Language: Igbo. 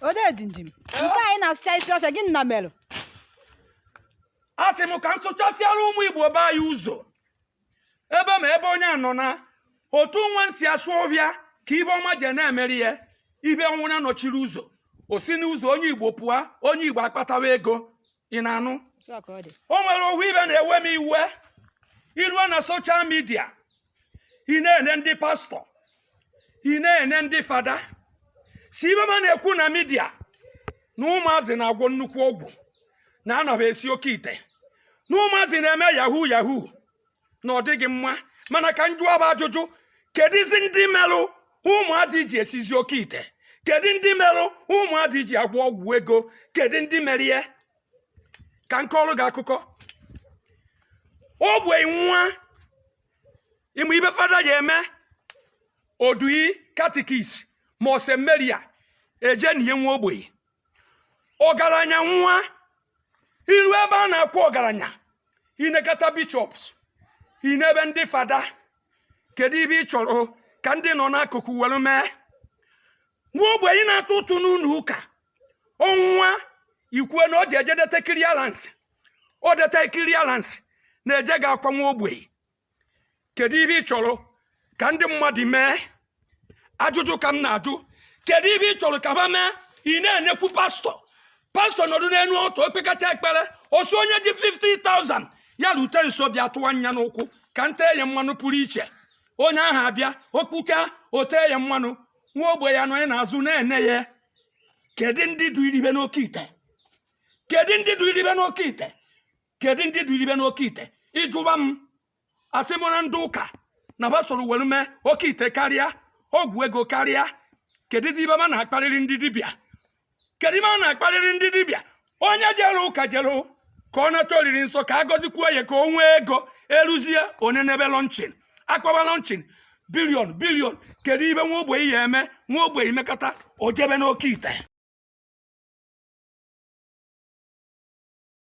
odedindim nke anyị na-asụchasi ọfịa gịnị merụ asị m ka m sụchasịara ụmụ igbo be anyị ụzọ ebe ma ebe onye a nọ na otu nwa m si asụ ọbịa ka ibe ọma je na-emeri ya ibe ọ wụna nọchiri ụzọ o si n'ụzọ onye igbo pụọ onye igbo akpatawa ego ị na-anụ o nwere ofu ibe na-ewe m iwe i ruo na soshal midia ị na-ene ndị pastọ ị na-ene ndị fada si ibe ma na-ekwu na midia na ụmụazị na-agwọ nnukwu ọgwụ na ana ba esi oke ite na ụmụazị na-eme yahoo yahoo na ọ dịghị mma mana ka m jụọ ba ajụjụ kedizi ndị merụ ụmụazị ji esizi oke ite kedu ndị merụ ụmụazị ji agwọ ọgwụ ego kedu ndị mere ya ka nke ọrụ gị akụkọ ogbenye nwa ị ma ibe fada ya-eme o dunye katikis ma seminarian eje na ihe nwa ogbenye ọgaranya nwụọ i ru ebe a na-akwa ọgaranya i nekata bishops i nebe ndị fada kedu ibe ị chọrọ ka ndị nọ n'akụkụ were mee nwa ogbenye na-atụ ụtụ n'ụnọ ụka ọ nwụọ e kwue na ọ ji eje deta clearance o deta clearance na-eje ga akwa nwa ogbenye kedu ibe ị chọrọ ka ndị mmadụ mee ajụjụ ka m na-ajụ kedu ibe ị chọrọ ka ba mee ị na-enekwu pastọ pastọ nọdụ n'enu altar o kpekata ekpere ọ sị onye ji 50,000 ya rute nso bịa tụwa nya n'ụkwụ ka m te ya mmanụ pụrụ iche onye ahụ abịa okpuka o te ya mmanụ nwa ogbenye anọ ya n'azụ na-ene ya kedu ndị duru ibe n'oke ite kedu ndị duru ibe n'oke ite kedu ndị duru ibe n'oke ite ị jụwa m asị m ọ bụ ndị ụka na ba soro were mee oke ite karịa ọgwụ ego karịa kedu ndị ibe ma na-akparịrị ndị dibịa kedu ibe a na-akparịrị ndị dibịa onye jere ụka jere ka ọ nata oriri nsọ ka a gọzikwuo ya ka o nwee ego e ruzie onye n'ebe lọnchin a kpọba lọnchin bilion bilion kedu ibe nwa ogbenye ya-eme nwa ogbenye mekọta o jebe n'oke ite